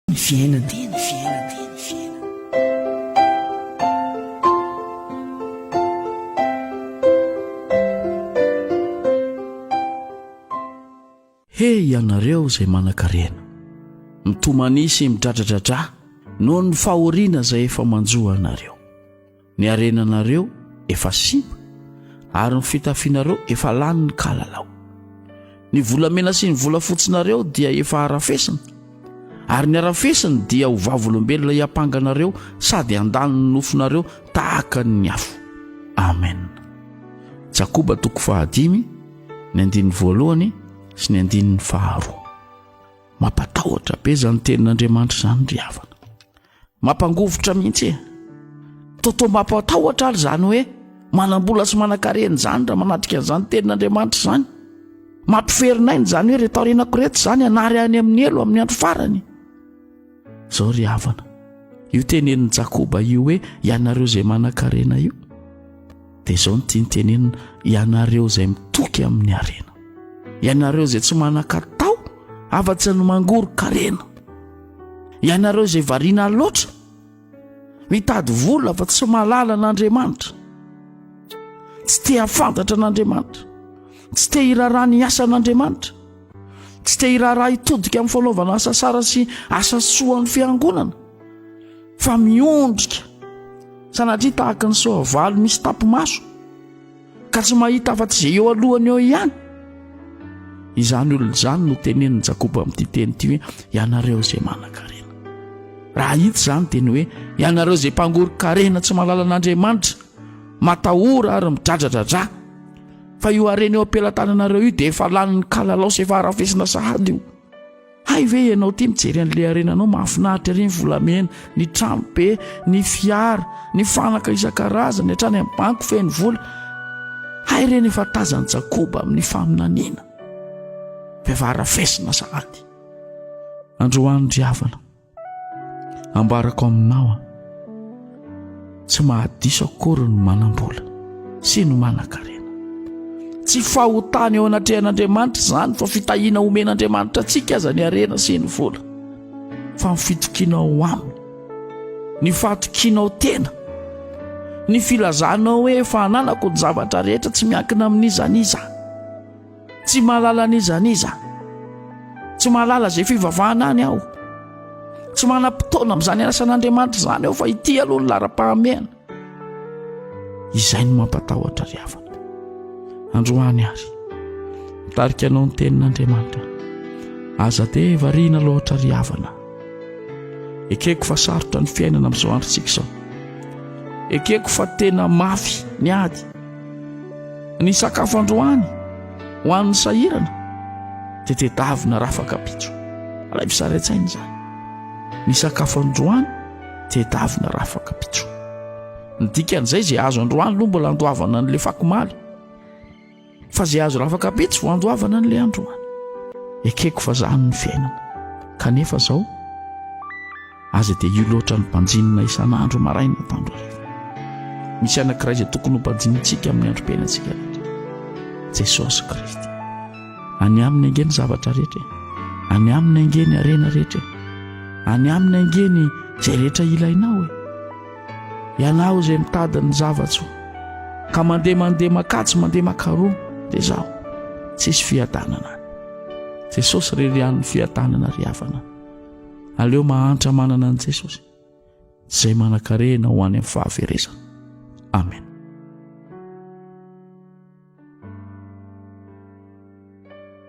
ny fiainana. He ianareo izay manan-karena, mitomania sy midradradradra noho ny fahoriana izay efa manjo anareo. Ny harenanareo efa simba, ary ny fitafianareo efa lany ny kalalao. Ny volamena sy ny volafotsinareo dia efa harafesina, ary ny harafesiny dia ho vavolombelona hiampanga anareo sady handany ny nofonareo tahaka ny afo. Amen. Jakoba toko fahadimy, ny andininy voalohany sy ny andininy faharoa. Mampatahotra be izany tenin'Andriamanitra izany ry havana. Mampangovitra mihitsy e! Totoa mampatahotra ary izany hoe manam-bola sy manan-karena izany raha manatrika an'izany tenin'Andriamanitra izany. Mampiferin'aina izany hoe reto aorianako reto izany hanary any amin'ny helo amin'ny andro farany. Izao ry havana, io tenenin'i Jakoba io hoe ianareo izay manan-karena io. Dia izao ny tiany tenenina, ianareo izay mitoky amin'ny harena, ianareo izay tsy manan-katao afa-tsy ny mangoron-karena, ianareo izay variana loatra mitady vola fa tsy mahalala an'Andriamanitra, tsy te hafantatra an'Andriamanitra, tsy te hiraharaha ny asan'Andriamanitra, tsy te hiraharaha hitodika amin'ny fanaovana asa sara sy asa soa an'ny fiangonana. fa miondrika sanatria tahaka ny soavaly misy tapi-maso ka tsy mahita afa-tsy izay eo alohany eo ihany izany olona izany no tenenin'i jakoba amin'ity teny ity hoe ianareo izay manan-karena raha hita izany dia ny hoe ianareo izay mpangoron-karena tsy malalan'andriamanitra matahora ary midradradradra fa io harena eo am-pelatananareo io dia efa lanin'ny kalalao sy efa harafesina sahady io Hay ve ianao ity mijery an'ilay harena anao mahafinaritra ery ny volamena, ny trano be, ny fiara, ny fanaka isan-karazany, hatrany amin'ny banky feno vola. Hay ireny efa tazan'i Jakoba amin'ny faminaniana. Vehivavy rafesina sahady. Androany ry havana. ambarako aminao a tsy mahadiso akory ny manam-bola sy ny manan-karena tsy fahotana eo anatrehan'andriamanitra izany fa fitahiana omen'andriamanitra antsika aza ny arena sy ny vola fa ny fitokianao ho aminy ny fahatokianao tena ny filazanao hoe efa hananako ny zavatra rehetra tsy miankina amin'iza n'iza Tsy mahalala n'iza n'iza. Tsy mahalala izay fivavahana any aho. Tsy manam-potoana amin'izany anasan'Andriamanitra izany aho fa ity aloha ny laharam-pahamehana. Izay no mampatahotra ry havana. Androany ary, mitarika anao ny tenin'Andriamanitra. Aza dia variana loatra ry havana. Ekeko fa sarotra ny fiainana amin'izao androntsika izao. Ekeko fa tena mafy ny ady. Ny sakafo androany ho an'ny sahirana dia tedavina rafakapitso. Alaivo sary an-tsaina izany. Ny sakafo androany tedavina rafakapitso. Ny dikan'izay izay azo androany aloha mbola andoavana an'ilay fakomaly. Fa izay azo rafakapitso vao andoavana an'ilay androany. Ekeko fa izany ny fiainana. Kanefa izao Aza dia io loatra ny banjinina isan'andro maraina atandro hariva. Misy anankiray izay tokony ho banjinintsika amin'ny androm-piainantsika rehetra. Jesosy Kristy. Any aminy ange ny zavatra rehetra. Any aminy ange ny harena rehetra. Any aminy ange ny izay rehetra ilainao e. Ianao izay mitady ny zavatso ka mandeha mandeha makatsy mandeha makaroa dia zaho. Tsisy fiadanana. Jesosy rery an'ny fiadanana ry havana. Aleo mahantra manana an'i Jesosy izay manan-karena ho any amin'ny fahaverezana. Amen.